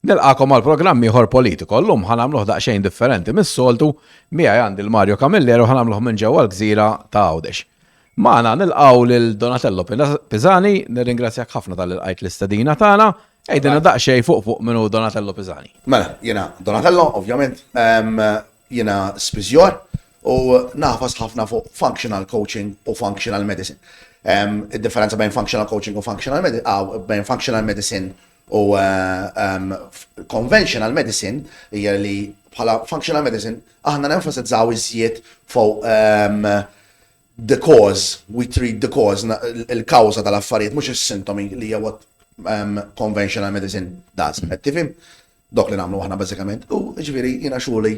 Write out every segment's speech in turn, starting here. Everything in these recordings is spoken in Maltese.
Nilqagħkom għal programm ieħor Politico. Llum ħa nagħmluh daqsxejn differenti mis-soltu, miegħi għandi l-Mario Camilleri u ħa nagħmluh minn ġewwa l-gżira ta' Għawdex. Magħna nilqgħu lil Donatello Pisani, nirringrazzjak ħafna tal qajt l-istedina tagħna. Ejdina daqsxejn fuq fuq minnu Donatello Pisani. Mela, jiena Donatello, ovvjament, jiena spiżjor u nafas ħafna fuq functional coaching u functional medicine. Id-differenza bejn functional coaching u functional medicine, bejn functional medicine U f'conventional medicine hija li bħala functional medicine aħna nenfasizzaw iżjed fuq the cause, we treat the cause, il-kawża tal-affarijiet mhux is-sintomi li hija what conventional medicine does. Qed tifhem? Dok li nagħmlu aħna bażikament. U jiġifieri jiena xogħli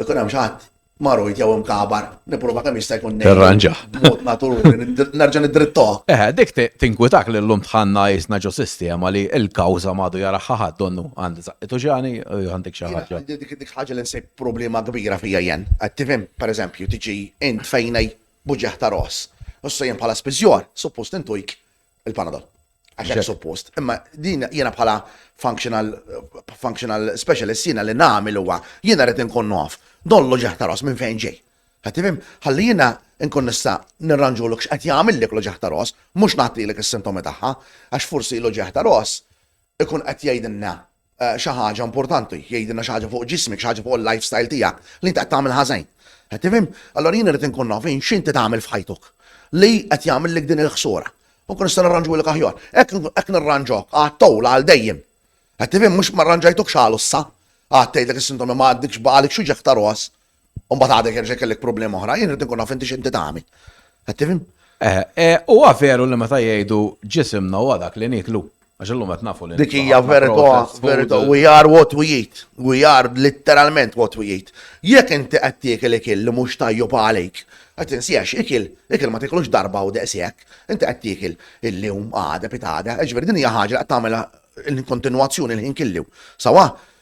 Ikun hemm xi ħadd marujt jew imkabar, nipprova kemm jista' jkun nejn. Irranġa. Mod naturali, nerġa' nidrittoha. Eh, dik tinkwitak li llum tħanna jisna ġo sistema li l-kawża m'għadu jaraħħa ħadd donnu għandi żaqqitu ġani u għandek xi ħaġa. Dik ħaġa li nsib problema kbira fija jen. Qed tifhem, pereżempju, tiġi int fejn buġieħ ta' ros. Issa jien bħala spiżjor, suppost intujk il-Panadol. Għax hekk suppost. Imma din jiena bħala functional, functional specialist jiena li nagħmel huwa jiena rrid inkun naf dollu ġeħta ros minn fejn ġej. Ħatifim, ħalli jiena nkun nista' nirranġu l x'qed jagħmel lek loġeħ ta' ros, mhux nagħtilek is-sintomi tagħha, għax forsi loġeħ ta' ros ikun qed jgħidilna eh, xi ħaġa importanti, jgħidilna xi ħaġa fuq ġismek, xi ħaġa fuq il-lifestyle tiegħek, li inti qed tagħmel ħażejn. Qed tifhem? Allora jien irid inkun naf x'inti tagħmel f'ħajtuk li qed jagħmellek din il-ħsura. U kun nista' nirranġu lek aħjar. Hekk nirranġok għat-towl għal dejjem. Qed tifhem mhux ma rranġajtuk xalu issa. Għad tgħidlek is-sintomi ma għaddikx baqalik xi ġeħta ros. U mbagħad għadek jerġa' kellek problema oħra, jien irid nkun naf inti x'inti tagħmel. Qed tifhem? Eh, eh, huwa veru li meta jgħidu ġisimna huwa dak li niklu. Għax illum qed nafu li. Dik hija verità, verità, we are what we eat. We are literalment what we eat. Jekk inti qed tiekel ikil li mhux tajjeb għalik, qed insiex ikil, ikil ma tiklux darba u daqshekk, inti qed tiekel illum għada pitgħada, ġifieri din hija ħaġa qed tagħmilha l-kontinwazzjoni l-ħin killu. Sawa,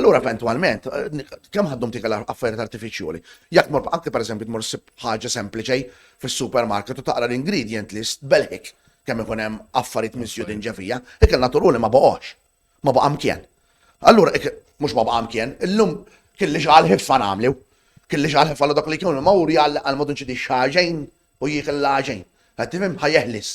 Allura eventwalment, kemm ħaddum tika l-affarijiet artifiċjoli? Jekk mor anke pereżempju tmur sib ħaġa sempliċi fis-supermarket u taqra l-ingredient list belħik kemm ikun hemm affarijiet miżjudin ġevija, ikel naturali ma boqgħox, ma baqa' mkien. Allura mhux ma baqa' mkien, illum kelli xi għal ħiffa nagħmlu, kelli xi għal ħiffa dak li kienu mawri għal mod inċidi xaġejn u jiekil l-għaġin. Qed tifhem? Ħa jeħlis.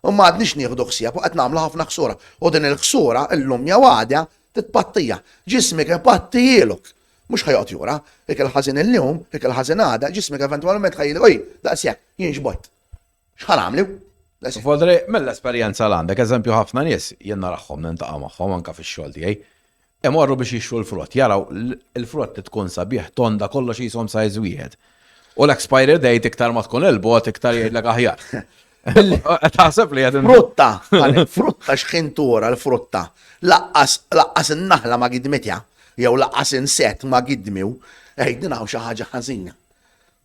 U m'għadniex nieħdu ħsieb u qed nagħmlu ħafna ħsura. U din il-ħsura, illum jew għada, titpattija. Ġismek ipattijilok. Mhux ħa joqgħod jura. Ikel ħażin illum, ikel ħażin għada, ġismek eventwalment ħa jgħidlek, oj, daqs hekk, jien xbajt. X'ħa nagħmlu? Fodri, mill-esperjenza l għandek, eżempju ħafna nies, jien narahom, nintaqa' magħhom anke fix-xogħol tiegħi. Imorru biex jixtru l-frott, jaraw il-frott li tkun sabiħ tonda kollox jisom sajz wieħed. U l-expiry date iktar ma tkun il-bot iktar jgħidlek aħjar. Taħseb li għedin. Frutta, frutta xħin tura l-frutta. Laqqas, laqqas n-naħla ma gidmitja, jew laqqas inset ma gidmiw, eħdin għaw xaħġa ħazina.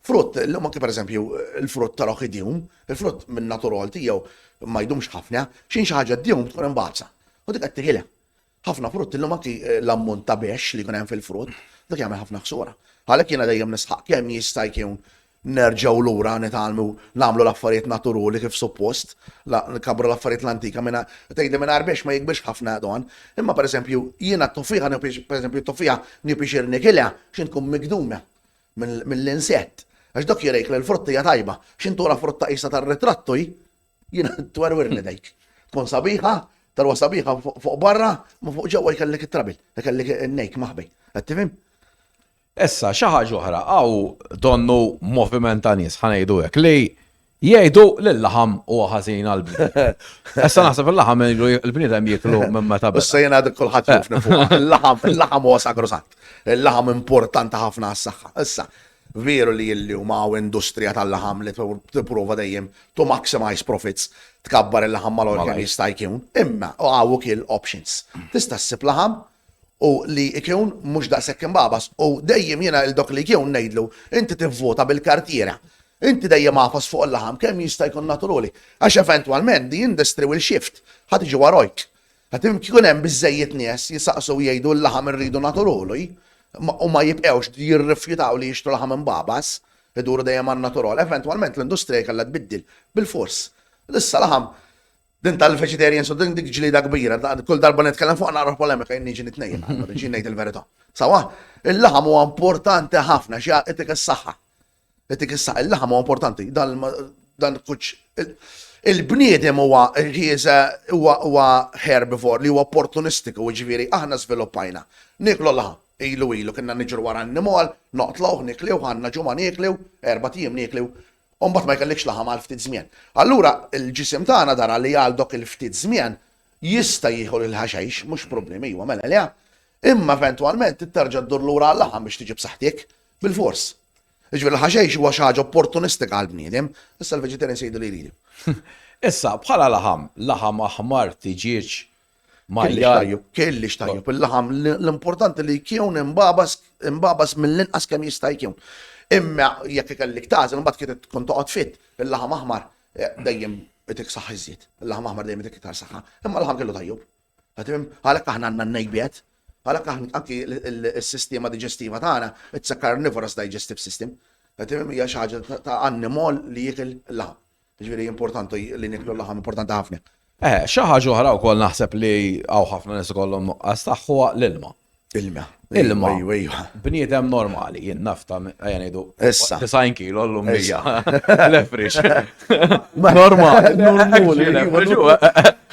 Frutt, l-lum anki per eżempju, il-frutt tal-oħidjum, il-frutt minn naturalti jew ma jdumx ħafna, xin xaħġa d-djum tkun imbazza. U dik għattiħilem. Ħafna frutt illum anki l-ammont ta' bexx li jkun hemm fil-frutt, dak jagħmel ħafna ħsura. Għalhekk jiena dejjem nisħaq kemm jista' jkun nerġgħu lura nitgħallmu nagħmlu l-affarijiet naturuli kif suppost, nkabbru l-affarijiet l-antika mingħa, tgħidli mingħajr bexx ma jikbirx ħafna dan. Imma pereżempju jiena t-tuffiħa nieħu pereżempju t-tuffiħa nieħu pixir nikilha x'in tkun migduna mill-insett. Għax dak jurejk li l-frutta hija tajba. X'in togħla frutta qisha tar-ritrattu hi, Jiena twerwer li dejk. Tkun sabiħa, talwa sabiħa fuq barra, ma fuq ġewwa jkellek it-trabil, jkellek nejk maħbi. Qed tifhem? Issa, xi ħaġa oħra, għaw donnu moviment ta' nies ħanejdu hekk li jgħidu li l-laħam huwa ħażin għal Issa naħseb il-laħam il-bniedem jieklu minn meta bda. Issa jien għadek kulħadd jufni fuq. Il-laħam, il-laħam huwa sagrosant. Il-laħam importanti ħafna għas-saħħa. Issa, veru li illum hawn industrija tal-laħam li tipprova dejjem to maximize profits tkabbar il-laħam mal-għol kemm jista' jkun, imma u għaw ukoll options. Tista' ssib laħam u li jkun mhux daqshekk imbabas u dejjem jiena il dok li jkun ngħidlu inti tivvota bil-kartiera. Inti dejjem għafas fuq il-laħam kemm jista' jkun naturali. Għax eventwalment di industry will shift, ħad iġi warajk. Ħad jkun hemm biżejjed nies jisaqsu jgħidu l-laħam irridu naturali u ma jibqgħux jirrifjutaw li jixtru laħam imbabas. Iduru dejjem għan-natural. Eventwalment l-industrija kellha tbiddil, bilfors. Issa laħam, din tal-vegetarians u din dik ġlieda kbira, kull darba li nitkellem fuq naqra polemika jien niġi nitnejjem, niġi ngħid il-verità. Sawa, il-laħam huwa importanti ħafna xi itik is-saħħa. Itik is-saħħa, il-laħam huwa importanti, dan kuċ il-bniedem huwa ħieża huwa herbivore li huwa opportunistiku, jiġifieri aħna żviluppajna. Nieklu l-laħam. Ilu ilu kinna niġru wara annimal, noqtluh, nikliewh, għandna ġimgħa niekliw, erbat ijiem niekliw, u mbagħad ma jkellikx laħam għal ftit żmien. Allura l-ġisem tagħna dara li għal dok il-ftit żmien jista' jieħu l-ħaxix, mhux problemi, ijwa mela le, imma eventwalment trid terġa' ddur lura għal-laħam biex tiġi b'saħħtik, bil-fors. Jiġifieri l-ħaxix huwa xi ħaġa opportunistika għall-bniedem, issa l-vegetarians jgħidu li jridu. Issa, bħala laħam, laħam aħmar, tiġieġ, Marjarju. Kelli xtajju il-laħam l-importanti li jkun imbabas mill-inqas kemm jista' jkun. Imma jekk ikellik tażel mbagħad kien tkun toqgħod fit il-laħam aħmar eh, dejjem itik saħħ iżjed. Il-laħam aħmar dejjem itik iktar saħħa. Imma l-laħam kellu tajjeb. Għalhekk aħna għandna n-nejbiet, għalhekk aħna anki s-sistema diġestiva tagħna, it's a carnivorous digestive system. Għatim hija xi ħaġa ta' annimol li jikil l-laħam. Jiġifieri importanti li niklu l-laħam importanti ħafna. Eh, xi ħaġa oħra wkoll naħseb li hawn ħafna nies ikollhom nuqqas tagħha l-ilma. Ilma. Ilma. Bniedem normali, jien nafta, għajan idu. Issa. Tisajn kilo l-lum bija. Lefrix. Normali. Normali.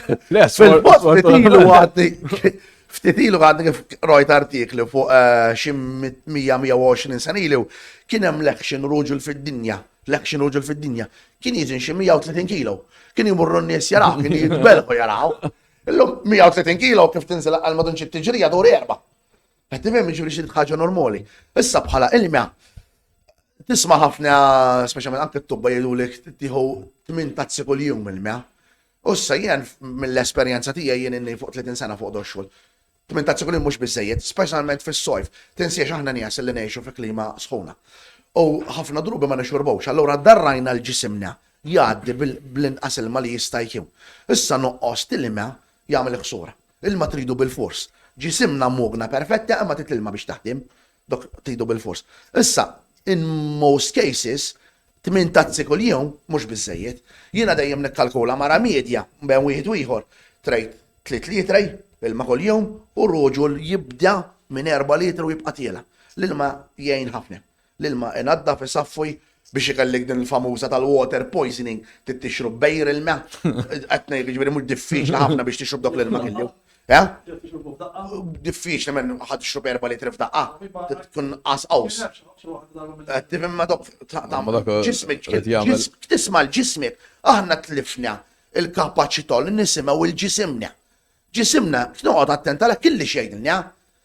Fil-postilu għadni. Ftitilu għadni kif rojt artikli fuq eh, xim 120 sanilu kien hemm l-action ruġul fid-dinja L-action uġul fid-dinja kien jizin xi 130 kilo. Kien jimurru n-nies jaraw, kien jitbelħu jaraw. Illum 130 kilo kif tinżel għal madun ċi tiġrija duri erba. Qed tifhem jiġri xi ħaġa normali. Issa bħala ilma tisma' ħafna speċjalment anke t-tubba jgħidulek tieħu tmien tazzi kull jum ilma. Ussa jien mill-esperjenza tiegħi jien inni fuq 30 sena fuq doxxul. Tmien tazzjoni mhux biżżejjed, speċjalment fis-sojf. Tinsiex aħna nies li ngħixu fi klima sħuna. U ħafna drubi ma nixurbux, allura darrajna l-ġisimna jgħaddi bl-inqas ilma li jista' jkun. Issa nuqqos t'ilma jagħmel ħsura. Ilma tridu bilfors. Ġisimna mogna perfetta imma trid l-ilma biex taħdem. Dok tridu bilfors. Issa, in most cases, tmien tazzi kuljum mhux biżżejjed. Jiena dejjem nikkalkula mara medja bejn wieħed u ieħor tgħid tliet litri ilma kuljum u ruġul jibda minn erba' litri u jibqa' tiela'. L-ilma jgħin ħafna. L-ilma inaddaf, isaffi Biex ikellik din il-famuża tal-water poisoning, trid tixrob bejr ilma. Qed ngħid jiġifieri mhux diffiċli ħafna biex tixrob dawk l-ilma kellu. Eh? Diffiċli minn ħadd tixrob erba' litri f'daqqa. Tkun qas qaws. Qed tifhem ma dok ġismek tisma' l-ġismek. Aħna tlifna il-kapaċità li nisimgħu l-ġisimna. Ġisimna, noqgħod attent għalhekk illi xejn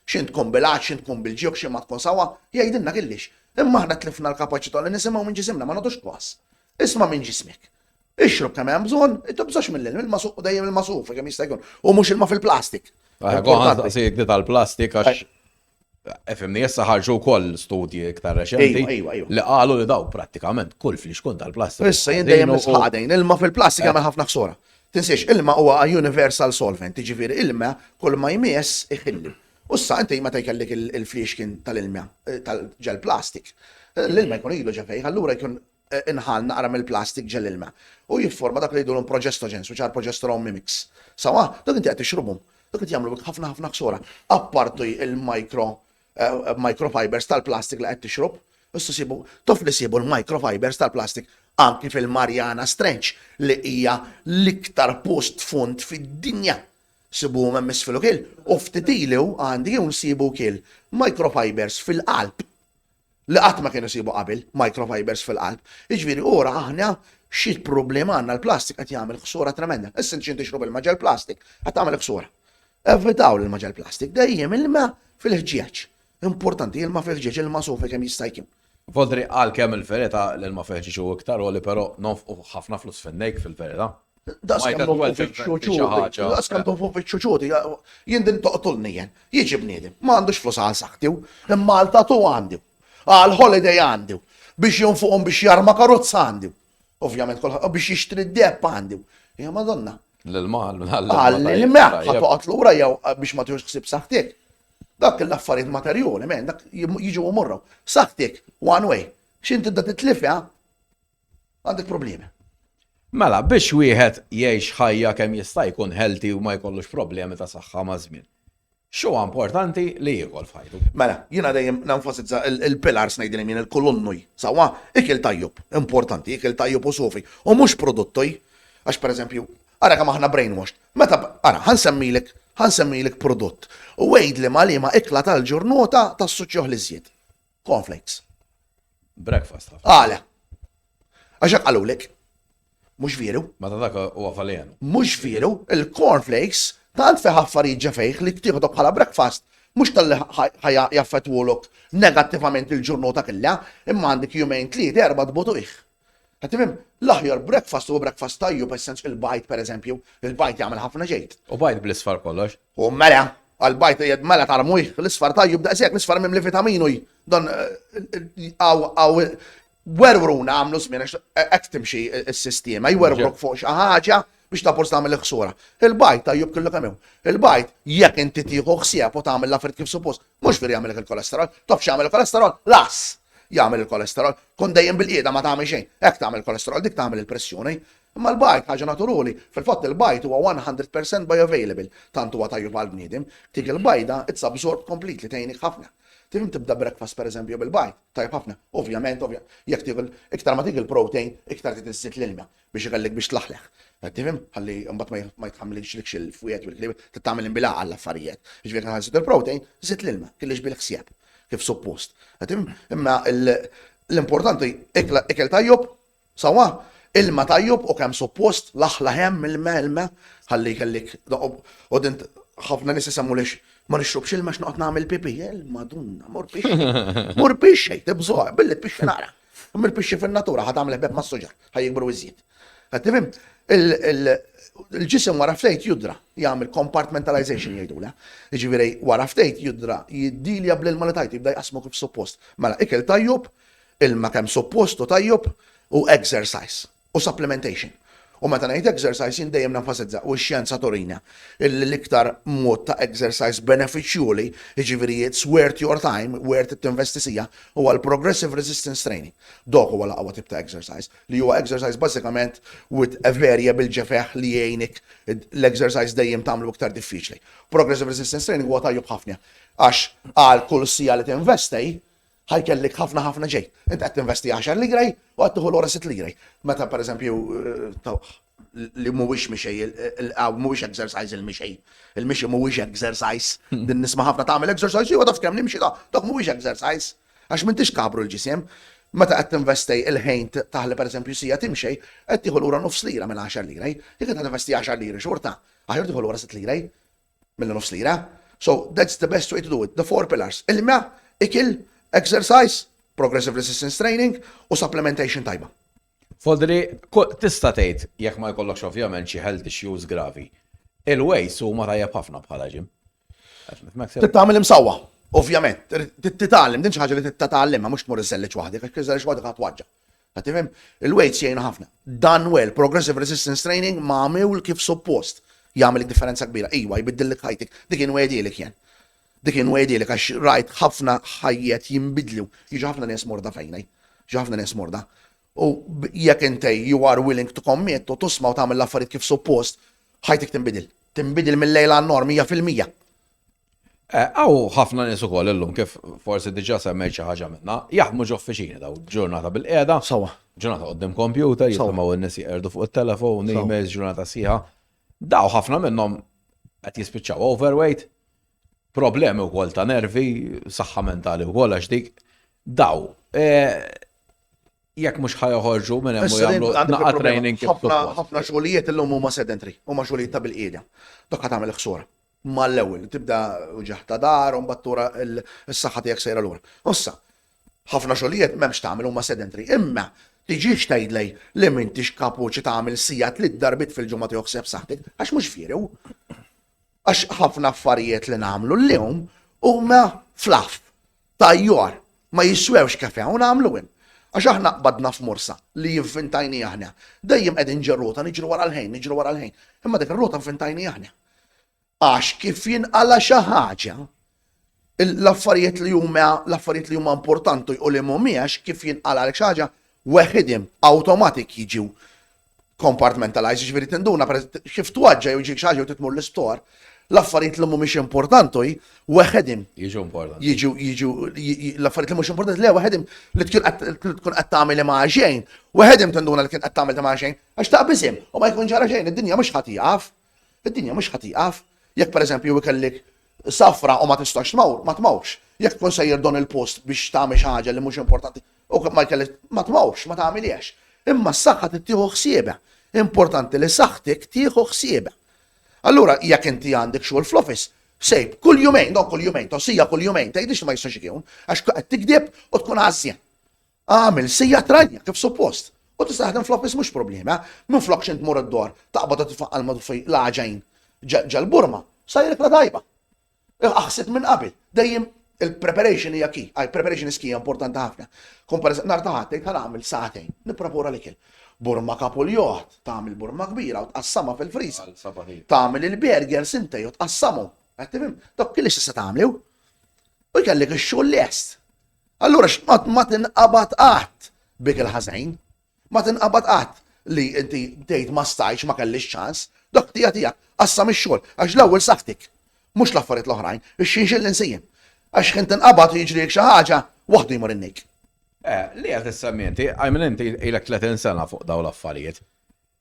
X'in tkun bil-għatx, x'in tkun bil-ġieħ u x'in ma tkun sewwa, jgħidilna Gillies, imma aħna tlifna l-kapaċità li nisimgħu minn ġisimna, ma nagħtux kwas. Isma' minn ġismek. Ixrob kemm hemm bżonn, tibżgħux mill-ilm, ilma suqqu dejjem ilma sufi kemm jista' jkun, u mhux ilma fil-plastik. Aħ, kont ħansaqsik di tal-plastik għax Efimni, issa ħarġu wkoll studji iktar reċenti li qalu li daw prattikament kull flixkun tal-plastik. Issa jien dejjem nisħaq dejn, ilma fil-plastik jagħmel ħafna ħsora. Tinsiex, ilma huwa a universal solvent, jiġifieri ilma kull ma jmiss iħilli. U issa inti meta jkellek il-fliexkin tal-ilma ġel plastik, l-ilma jkun ilu ġa fejh, allura jkun inħall naqra mill-plastik ġel ilma. U jifforma dak li jgħidulhom progestogens, which are progesterone mimics. Sewwa? Dawk inti qed tixrubhom. Dawk qed jagħmlu bik ħafna ħafna ħsara. Apparti il-micro eh, microfibers tal-plastik li qed tixrob, issa sibu tof li sibu l-microfibers tal-plastik anki fil-Mariana Strenċ li hija l-iktar post fond fid-dinja. Sibu hemm isfilu kil u ftitilu għandi jew nsibu kil microfibers fil-qalb li qatt ma kienu sibu qabel, microfibers fil-qalb. Jiġifieri ura aħna xi problema għandna l-plastik qed jagħmel ħsura tremenda. Issa inti tixrob ilma ġel plastik qed tagħmel ħsura. Evitaw l-ilma ġel plastik, dejjem ilma fil-ħġieġ. Importanti ilma fil-ħġieġ, ilma sofi kemm jista' jkun. Vodri għalkemm il-verita l-ilma fil-ħġieġ hu iktar għoli pero nonfqu ħafna flus fin-nejk fil-verita. Daqskemm Novovic u ċuti, daqskemm Novovic u ċuti, jien din toqtulni jien. Jiġi bniedem, ma għandux flus għal saħtiw, imma għal tatu għandu, għal holiday għandu, biex jonfuqhom biex jarma karozza għandu. Ovvjament kolħaq biex jixtri d-depp għandu. Ja madonna. L-ilma, l-ilma. Ħatoqat lura jew biex ma tiħux ħsib saħtik. Dak l-affarijiet materjoli, men, dak jiġu morru. Saħtik, one way. Xinti da titlifja, Għandek problemi. Mela, biex wieħed jgħix ħajja kemm jista' jkun healthy u ma jkollux problemi ta' saħħa ma' żmien. Xu importanti li jiekol f'ħajtu. Mela, jiena dejjem nenfasizza il-pilars ngħidilhom jien il-kolonnuj. Sawa, ikel tajjeb, importanti, ikel tajjeb u sofi. U mhux produttoj, għax pereżempju, ara kemm aħna brainwashed. Meta ara, ħansemmilek, ħansemmilek prodott. U għid li ma li ma ikla tal-ġurnota tas-suċċuħ li żjed. Cornflakes. Breakfast ħafna. Għala. Għaxak għalulek. Mux veru. Ma ta' dak u għafalijan. Mux veru, il-cornflakes tant feħ affarijiet ġefejħ li tieħdu bħala breakfast mux tal-li ħajja jaffetwolok negattivament il-ġurnota killa, imma għandik jumejn tliet erba tbutu iħ. Qed tifhem? L-aħjar breakfast huwa breakfast tajjeb essens il-bajt pereżempju, il-bajt jagħmel ħafna ġejt. U bajt bl-isfar kollox. U mela, għal bajt jed mela tarmuj, l-isfar tajjeb daqshekk, l-isfar mimli vitaminu dan għaw werwruna għamlu żmien għax hekk timxi s-sistema, jwerwruk fuq xi ħaġa biex ta' forsi tagħmel il-ħsura. Il-bajt ta' jub kellu kemm hemm. Il-bajt jekk inti tieħu ħsieb u tagħmel l-affarijiet kif suppost, mhux fir jagħmel il-kolesterol, tof x'jagħmel il-kolesterol, las jagħmel il-kolesterol, kun dejjem bil-qiegħda ma tagħmel xejn, hekk tagħmel il-kolesterol, dik tagħmel il-pressjoni. Imma l-bajt ħaġa naturali, fil-fatt il-bajt huwa 100% bioavailable, tant huwa tajjeb għal bniedem, dik il-bajda it's absorbed completely tgħinik ħafna. Tifhem tibda breakfast per eżempju bil-bajt, tajjeb ħafna. Ovvjament, ovvjament, jekk tieħu iktar ma tieħu il-protein, iktar trid iżżid l-ilma. biex ighellek biex tlaħleħ. Qed tifhem? Ħalli mbagħad ma jitħammlilx il-fwied u l-ħlieb, trid tagħmel inbilaq għall-affarijiet. Jiġifieri aħna nżidu l-protein, żid l-ilma, kellix bil-ħsieb kif suppost. Qed tifhem? Imma l-importanti ikel tajjeb, sewwa, ilma tajjeb u kemm suppost, laħlaħ hemm ilma ilma ħalli jkellik u dint ħafna nies isemmu lix ma nixrobx ilma x'noqgħod nagħmel pipi, il-madunna, mor pixxi, mor pixxi, tibżgħu, billi pixxi nara. Imma l-pixxi fin-natura ħad għamel ħbeb mas-suġar, ħa jikbru iżjed. Qed nifhem? Il-ġisem wara ftejt judra jagħmel compartmentalization jgħidula. Jiġifieri wara ftejt judra jiddilja bl-ilma li tajt jibda jqasmu kif suppost. Mela ikel tajjeb, ilma kemm suppost u tajjeb u exercise. u supplementation. U meta ngħid exercise jien dejjem nenfasizza, u x-xjenza turina, illi l-iktar mod ta' exercise benefiċjuli, jiġifieri it's worth your time, worth it tinvesti siegħa, huwa l-progressive resistance training. Dok huwa l-aqwa tip ta' exercise, li huwa exercise bażikament with a variable ġefeħ li jgħinik l-exercise dejjem tagħmlu iktar diffiċli. Progressive resistance training huwa tajjeb ħafna għax għal kull siegħa li tinvesti, Ħa jkellik ħafna ħafna ġej. Inti qed tinvesti 10 liraj u qed tieħu lura 6 liraj. Meta pereżempju tawħ li mhuwiex mixej, il-qaw mhuwiex exercise il-mixej. Il-mixi mhuwiex exercise. Din nisma' ħafna tagħmel exercise, jew taf kemm nimxi da, dak mhuwiex exercise. Għax m'intix kabru l-ġisem. Meta qed tinvestej il-ħin taħli pereżempju sija timxej, qed tieħu lura nofs lira minn 10 liraj. Jekk qed tinvesti 10 liri xorta, aħjar tieħu lura 6 liraj. Mela nofs lira. So that's the best way to do it. The four pillars. Ilma, ikil, exercise, progressive resistance training u supplementation tajba. Fodri, tista' tgħid jekk ma jkollokx ovvjament xi health issues gravi. Il-ways huma tajjeb ħafna bħala ġim. Titgħamel imsawwa, ovvjament, titgħallem din xi ħaġa li titgħallem ma mhux tmur iżellix waħdek, għax iżellix waħdek ħadd waġġa. Qed tifhem? Il-weights jgħinu ħafna. Dan well, progressive resistance training magħmul kif suppost, jagħmel id-differenza kbira. Ijwa, jbiddillek ħajtik. Dik inwegħdielek jien. Dik inwegħdielek għax rajt ħafna ħajjet jinbidlu. Jiġu ħafna nies morda fejni. Jiġu ħafna nies morda. U jekk intej you are willing to commit u tusma' u tagħmel l-affarijiet kif suppost, ħajtik tinbidil. Tinbidil mill-lejl għan-nor 100%. Hawn ħafna nies ukoll illum kif forsi diġà semmejt xi ħaġa minnha, jaħdmu ġo uffiċini daw ġurnata bil-qiegħda. Sewwa. Ġurnata qudiem kompjuter, jisimgħu n-nies jeqerdu fuq it-telefon, emails, ġurnata sħiħa. Daw ħafna minnhom qed jispiċċaw overweight, problemi wkoll ta' nervi, saħħa mentali wkoll għax dik. Daw, jekk mhux ħajoħorġu minn hemm u jagħmlu naqgħa training. Ħafna xogħlijiet illum huma sedentary, huma xogħlijiet ta' bil-qiegħda. Dok ħadd tagħmel ħsura. mal-ewwel tibda uġigħ ta' dahar u mbagħad tura s-saħħa tiegħek sejra lura. Issa, ħafna xogħlijiet m'hemmx tagħmel huma sedentary, imma tiġix tgħidli li m'intix kapuċi tagħmel siegħa tliet darbiet fil-ġimgħa toħseb saħħtek, għax mhux vjerew. Għax ħafna affarijiet li nagħmlu llum huma flaf, tajjor, ma jiswewx kafe u nagħmlu hemm. Għax aħna qbadna f'morsa li jivvintajni aħna. Dejjem qegħdin ġerrota niġru wara l-ħin, niġru wara l-ħin. Imma dik ir-rota nfintajni aħna. Għax kif jinqala' xi ħaġa, l-affarijiet li huma l-affarijiet li huma importanti u li mhumiex kif jinqala' għalek xi ħaġa weħidhom awtomatik jiġu compartmentalized, jiġifieri tinduna kif twaġġa' jew ġiek xi ħaġa jew titmur l-istor, l-affarijiet li mhumiex importanti weħidhom. Jiġu importanti. Jiġu jiġu l-affarijiet li mhux importanti le weħidhom li tkun qed tkun qed tagħmel ma' xejn, weħidhom tinduna li kien qed tagħmel ma' xejn għax taqbiżhom u ma jkun ġara xejn, id-dinja mhux ħadd jaf. Id-dinja mhux ħa tieqaf. Jekk pereżempju ikellik safra u ma tistax tmawr, ma tmawrx. Jekk tkun sejjer don il-post biex tagħmel xi ħaġa li mhux importanti u ma jkellek, ma tmawrx, ma tagħmilhiex. Imma s-saħħa trid tieħu ħsiebha. Importanti li saħħtik tieħu ħsiebha. Allura jekk inti għandek xogħol fl-office, sejb kull jumejn, don kull jumejn, tossija kull jumejn, tgħidlix li ma jistax ikun, għax qed tigdeb u tkun għażżien. Agħmel sija tranja kif suppost u tista' taħdem fl-office mhux problema. Minflok x'int tmur id-dor, taqbad u titfaq qalma tuffi l-għaġajn ġal-burma, sajrek la tajba. Aħsib minn qabel, dejjem il-preparation hija key, għaj preparation is key importanti ħafna. Kun per nar ta' ħadd tgħid nagħmel sa'tejn, nipprapura l-ikel. Burma kapul joħt, tagħmel burma kbira u tqassama fil-friża. Tagħmel il-burger sintej u tqassamu. Għattimim, dok kelli x'issa tagħmlu. U jkellek ix-xogħol lest. Allura x'qatt ma tinqabad qatt bik il-ħażejn. Ma tinqabad qatt li inti tgħid ma stajtx, ma kellix ċans. Dak tija tiegħek, qassam ix-xogħol, għax l-ewwel saħħtik, mhux l-affarijiet l-oħrajn, ix-xinxil li nsejjem. Għax ħin tinqabad u jiġrielik xi ħaġa, waħdu jmur in-nik. Eh, li qed issemmi inti, I mean inti ilek 30 sena fuq dawn l-affarijiet.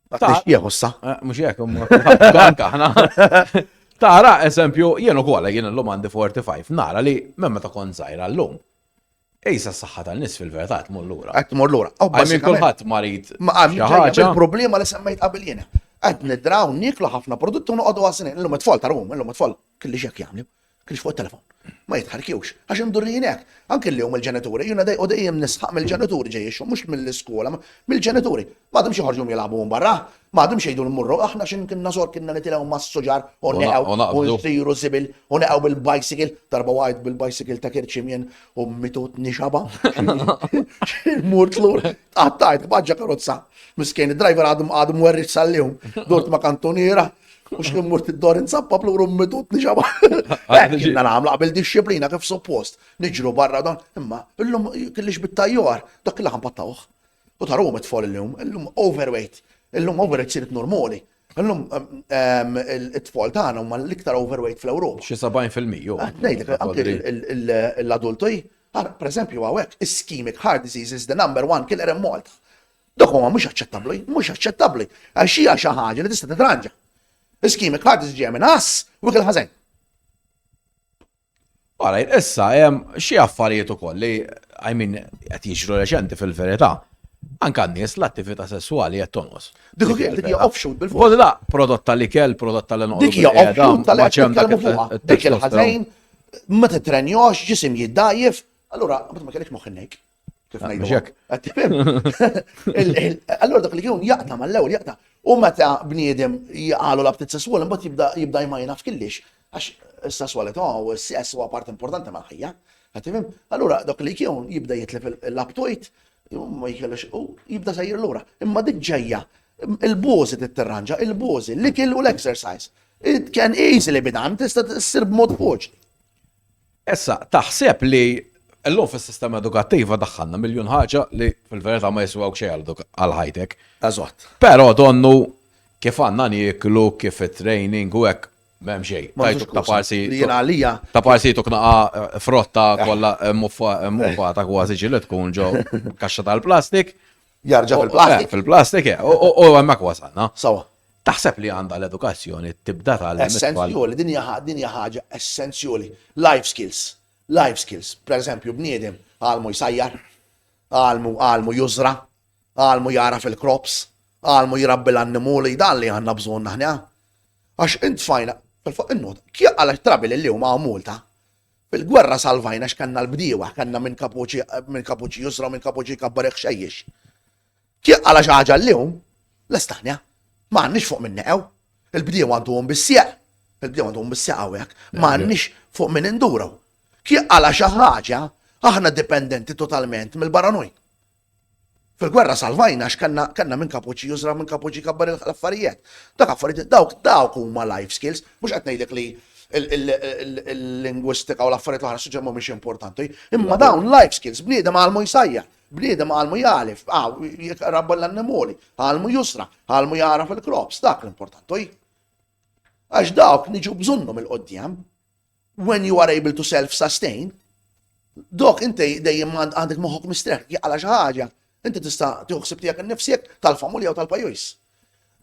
Ta' jieħu sa. Eh, mux jek, anka ħna. Tara, eżempju, jenu kolla jien l-lum għandi 45, nara li memma ta' kon zaħira l-lum. Ejsa s-saxħa tal-nis fil-verità tmur lura. Għat tmur lura. Għamil kullħat marit. Il-problema li semmejt qabel jena. Għad nidraw niklu ħafna prodotti u noqogħdu għasnin. Illum it-tfal tarum, illum it-tfal kelli xek jagħmlu. Kienx fuq it-telefon. Ma jitħarrkjux. Għax imdurrijin hekk. Anke llum il-ġenituri, jiena dej u dejjem nisħaq mill-ġenituri ġej ix-xogħol, mhux mill-iskola, mill-ġenituri. Ma għadhomx joħorġu jilagħbu minn barra. Ma għadhomx jgħidu mmorru, aħna xi kinna sor kinna nitilgħu mas-suġar u neqgħu u nsiru żibil u neqgħu bil-bicycle. Darba waqgħet bil-bicycle ta' kirċiem jien u mitutni xaba. Murt lur, tqattajt b'ħaġġa karozza. Miskien id-driver għadu mwerriġ sal-lum. Durt ma' kantuniera, U xkien murt id-dor insabba pluru mmidut li xaba. Għanna namla qabel disċiplina kif suppost. Niġru barra dan. Imma, illum kellix bit-tajjar, dak il-laħam pattawħ. U taru għom it-tfal illum, illum overweight. Illum overweight sirit normali. Illum it-tfal tagħna huma l-iktar overweight fl-Ewropa. Xi 70%. Ah, Ngħidlek anke l-adulti, ah, per eżempju hawnhekk, ischemic heart disease is the number one killer in Malta. Dok huwa mhux aċċettabbli, mhux aċċettabbli, għax hija xi ħaġa li tista' titranġa. Iskimik ħadd iġġej minn ass u kien ħażen. Għala, issa, xie affarijiet u koll li, I mean, għet jiġru reċenti fil-verita. Anka n-nies l-attività sessuali għet tonqos. Dik kien dik hija offshoot bil-fuq. Kolla la, prodott tal-ikel, prodott tal-enqos. Dik hija offshoot tal-ikel tal-ikel fuqha. Dik il-ħażejn, ma titrenjox, ġisim jiddajjef. Allura, ma kellek moħħinnek. Ah, allora dak li jkun jaqta mal-ewwel jaqta. U meta bniedem jgħalu la btit sesswal, imbagħad jibda jibda jmajna f'killix. Għax is-sesswalità u s-sess huwa part importanti mal-ħajja. Għatifim? Allura dak li jkun jibda jitlef l-aptojt, ma jkellux u jibda sejjer lura. Imma dik ġejja il-bozi titterranġa, il-bozi, l-ikel u l-exercise. It can easily be done, tista' ssir b'mod foċ. Issa, taħseb li llum fis-sistema edukattiva daħħalna miljun ħaġa li fil-verità ma jiswewk xejn għal ħajtek. Eżatt. Però donnu kif għandna nieklu, kif it-training u hekk m'hemm xejn. Tajtu ta' parsi. Jien għalija. Ta' parsi jtuk naqa' frotta kollha muffata kważi ġieli tkun ġo kaxxa tal-plastik Jarġa fil-plastik. Fil-plastik, eh, u għemmek wasalna. Sawa. Taħseb li għanda l-edukazzjoni tibda tal Essenzjoli, din hija ħaġa essenzjoli. Life skills. Life skills. Per eżempju, bniedem għalmu jsajjar, għalmu għalmu jużra, għalmu jara fil-krops, għalmu jirabbi l-annimuli, dan li għanna bżon naħna. Għax int fajna, fil-faqqa n-not, kja għalek trabi li l-lum għaw multa, Fil-gwerra salvajna x'kanna l-bdiewa, kanna minn kapuċi minn kapuċi jusra u minn kapuċi jkabbar iħxejjix. Tieq għala xi ħaġa llum, l-Estanja, ma għandniex fuq minn neqgħu. Il-bdiewa għandhom bis-sieq, il-bdiewa għandhom bis-sieq hawnhekk, ma għandniex fuq minn induru. Tieq għala xi ħaġa, aħna dipendenti totalment mill-barranujn. Fil-gwerra salvajna għax kellna kellna min kapuċi jużra min kapuċi jkabbar l-affarijiet. Dak affarijiet dawk dawk huma life skills, mhux qed ngħidlek li l-lingwistika u l-affarijiet l-oħra suġġett mhumiex importanti, imma dawn life skills bniedem għalmu jsajja, bniedem għalmu jgħalif, rabba l-annimoli, għalmu jusra, għalmu jara fil-krops, dak l-importanti. Għax dawk niġu bżonnhom il-qoddim. When you are able to self-sustain, dok inti dejjem għandek moħok mistrek, jgħala xi ħaġa, inti tista' tiħsib tiegħek innifsek tal-familja u tal-pajjiż.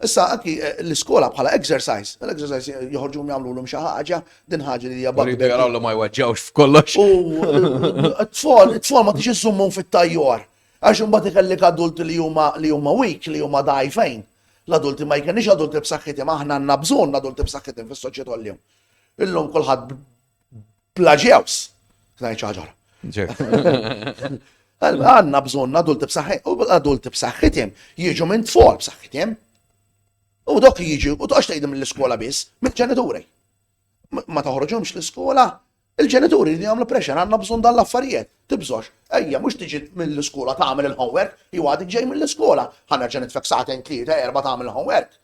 Issa anki eh, l-iskola bħala exercise, l-exercise joħorġu jagħmlulhom xi ħaġa, din ħaġa li jabba. Rridu jaraw li ma jweġġawx f'kollox. U eh, t-tfal, t-tfal ma tixi żummhom fit-tajjor. Għax imbagħad ikellek adulti li huma li huma weak, li huma dajfejn. L-adulti ma jkenniex adulti b'saħħithom, aħna għandna bżonn adulti b'saħħithom fis-soċjetà l-jum. Illum kulħadd bla ġews. Ngħid xi ħaġa. Għandna bżonn adulti b'saħħit, u adulti b'saħħithim jiġu minn tfal b'saħħithim. U dok jiġu, u toqgħodx tgħidhom l-iskola biss, mill-ġenituri. Ma toħroġhomx l-iskola, il-ġenituri li jagħmlu pressure għandna bżonn dan l-affarijiet. Tibżox, ejja mhux tiġi mill-iskola tagħmel il-homework, jew għadik ġej mill-iskola, ħanerġa' nitfek saħten tlieta erba' tagħmel il-homework.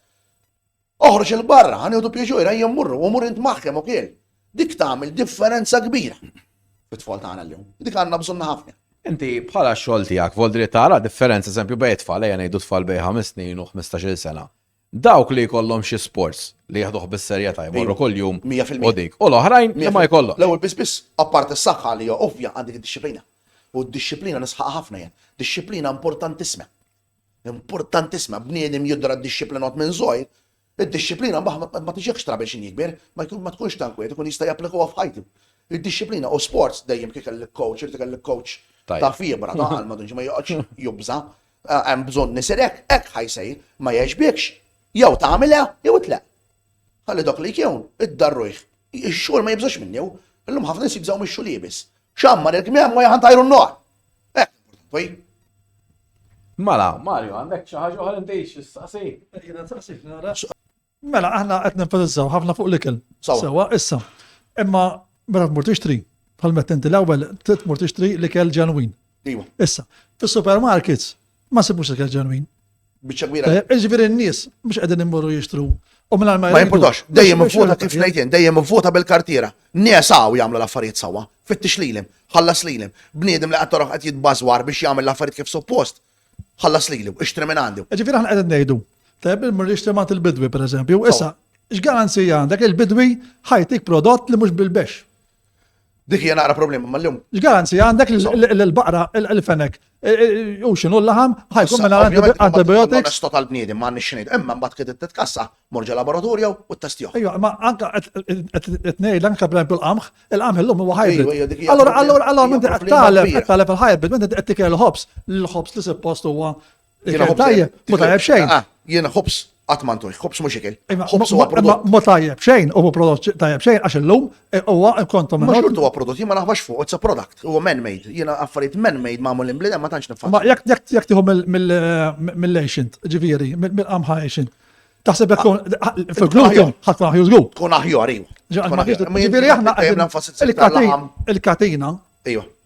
Oħroġ 'il barra, ħa nieħdu pjeċur, ejja mmorru, u mur int maħkem ukiel. Dik tagħmel differenza kbira fit-tfal tagħna llum. Dik għandna bżonna ħafna. Inti bħala x-xogħol tiegħek vol dritt tara differenza eżempju bejn tfal ejja ngħidu tfal bejn ħames snin u 15-il sena. Dawk li jkollhom xi sports li jaħduh bis-serjetà jmorru kuljum u dik. U l-oħrajn li ma jkollhom. L-ewwel biss biss, apparti s-saħħa li hija ovvja għandik id-disciplina. U d-disciplina nisħaq ħafna jien. Disciplina importantissima. Importantissima, bniedem jidra ddixxiplinat minn żgħir, id-dixxiplina mbagħad ma tiġihx trabel x'inhi kbir, ma tkunx ta' nkwiet, ikun jista' japplikaha f'ħajtu. Id-dixxiplina u sports dejjem kif kellek coach, irid ikollek coach ta' fibra, ta' qalma, dunġi ma joqgħodx jubża', hemm bżonn isir hekk, hekk ħa jsir, ma jgħeġbikx, jew tagħmilha jew itleq. Ħalli dawk li jkiewn, iddarrujh. Ix-xogħol ma jibżgħux minnu, illum ħafna nies jibżgħu mix-xogħol iebes. X'għammar il-kmiem u jagħmel tajru n-nogħol. Poi. Mala, Mario, għandek xi ħaġa oħra inti x'istaqsi? Jiena taqsi nara. Mela, aħna qed nenfasizzaw ħafna fuq l-ikel. Sewa, issa. Imma meta tmur tixtri, bħal meta inti l-ewwel trid tmur tixtri l-ikel ġenwin. Iwa. Issa, fis-supermarkets Ma sibux ikel ġenwin. Biċċa kbira. Eh, Ġifieri n-nies mhux qegħdin immorru jixtru. U minn ma jimportax, dejjem vota kif ngħidin, dejjem vota bil-kartiera. Nies hawn jagħmlu l-affarijiet sewwa, fittix lilhom, ħallas lilhom. Bniedem li qed toroħ qed jitbażwar biex jagħmel l-affarijiet kif suppost, ħallas lilu, ixtri minn għandu. Eh, ġifieri aħna qegħdin ngħidu, tajjeb il-mur jixtri ma' il-bidwi pereżempju, issa x'garanzija għandek il-bidwi ħajtik prodott li mhux bil-bex. Dik hija naqra problema mal-lum. Il-garanzija għandek l-baqra, il-fenek, e, e, u xinu l-laħam, ħajkun minna antibiotics. Sto tal-bniedi ma għandix xinid, imma mbagħad kien titkassa morġa laboratorja u testiju. Ejja, ma anka tnejl anka bl l-qamħ, il-qamħ illum huwa hybrid. Allora, allora, allora, minn qed taleb, qed taleb il-hybrid, minn qed tikel l-ħobs, l-ħobs li suppost huwa Jiena Ikel ħobż- tajjeb, ma tajjeb xejn. Ah, Jiena ħobs qatt ma ntuħ, ħobs mhux ikel. Imma- Ħobs huwa ma- prodott. Ma tajjeb xejn, u ma prodott xi- tajjeb xejn, għax illum eh, huwa kontu Ma minn xortu huwa prodott, jien ma naħbax fuq, it's a product. Huwa man-made. Jiena affarijiet man-made magħmulin bl ma tantx nifhem. Ma jekk jekk jekk tieħu mill- mill- eh, mill-ancient, ġifieri, mill- mill-qamħa ancient. Taħseb jekk tkun Ah, fil-gluten ħadd ma ħjuż glut. Tkun aħjar, iva. Tkun aħjar. Ma jien- Ġifieri aħna dejjem nenfasizza il-katina, il-katina, iva.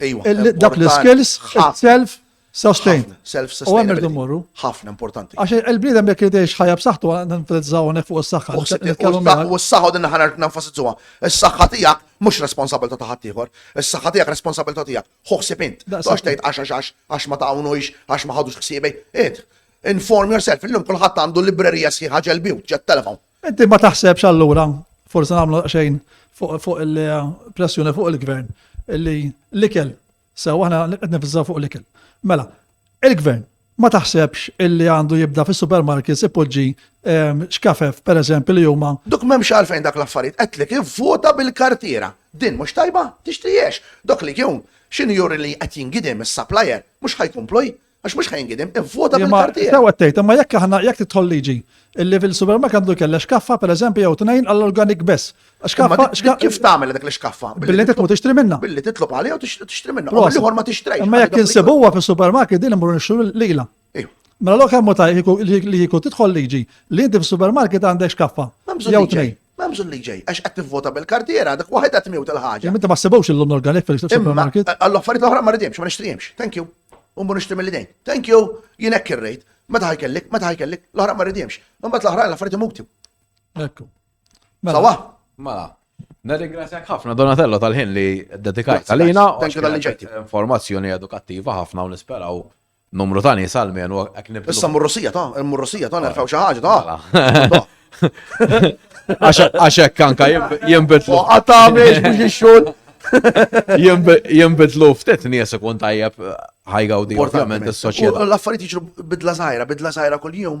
Dak l-iskills, self sustain. U hemm irdu mmorru. Ħafna importanti. Għax il-bniedem jekk jidejx ħajja b'saħħtu nenfasizzaw hawnhekk fuq is-saħħa. U s-saħħa din naħa nenfasizzuha. Is-saħħa tiegħek mhux responsabilità ta' ħadd ieħor. Is-saħħa tiegħek responsabilità tiegħek. Ħoħsib int. Għax tgħid għax għax għax ma tagħwnux għax ma ħadux ħsiebej. Int, inform yourself. Illum kulħadd għandu librerija sħiħa ġelbiju, ġet telefon. Inti ma taħsebx allura, forse nagħmlu xejn fuq il-pressjoni fuq il-gvern, li l-ikel, sew aħna qed nifżaw fuq l-ikel. Mela, il-gvern ma taħsebx illi għandu jibda fis supermarkets ipoġġi ehm, xkafef, per eżempju, li huma. Dok m'hemmx għalfejn dak l-affarijiet, qedlek ivvota bil-kartiera. Din mhux tajba, tixtriex. Dok li jum x'inhu juri li qed jingidem is-supplier mhux ħajkomplu Għax mux ħajn gidem, vota bil karti Sewa t-tejt, ma jekk aħna jekk titħol liġi, illi fil-supermarket għandu kella xkaffa, per eżempju, jew tnejn għall-organik bess. Xkaffa, xkaffa. Kif tagħmel dak l-xkaffa? Billi titmu tixtri minna. Billi titlob għalija u tixtri minna. U l-ħor ma tixtri. Ma jekk insibuha fil-supermarket din imur nixxu lila. Mela l-ok hemm ta' li jkun tidħol liġi li inti fis-supermarket għandek xkaffa. Jew tnejn. M'hemm bżonn li ġej, għax qed tivvota bil-kartiera, dak waħedha tmiewt il-ħaġa. Imma ma ssibux il-London Galek fil-supermarket. Għall-affarijiet l-oħra ma ridimx, ma nixtrijimx. Thank you. Umbu nixtri mill-idejn. Thank you. Jien hekk irrejt. Meta ħajkellek, meta ħajkellek, l-oħra ma ridimx. Imbagħad l-oħra l-affarijiet imuti. Ekku. Mela. Sawa. Mela. Nirringrazzjak ħafna Donatello tal-ħin li dedikajt għalina. Thank you tal-li ġejti. Informazzjoni edukattiva ħafna u nisperaw Numru ta' nies għal menu hekk nibdu. Issa murrosija ta', murrosija ta' nerfgħu xi ħaġa ta'. Għax hekk anka jinbidlu. Qatta' mhix mhux ix-xogħol. Jimbidlu ftit nies ikun tajjeb ħajgawdi ovvjament is-soċjetà. L-affarijiet jiġru bidla żgħira, bidla żgħira kuljum.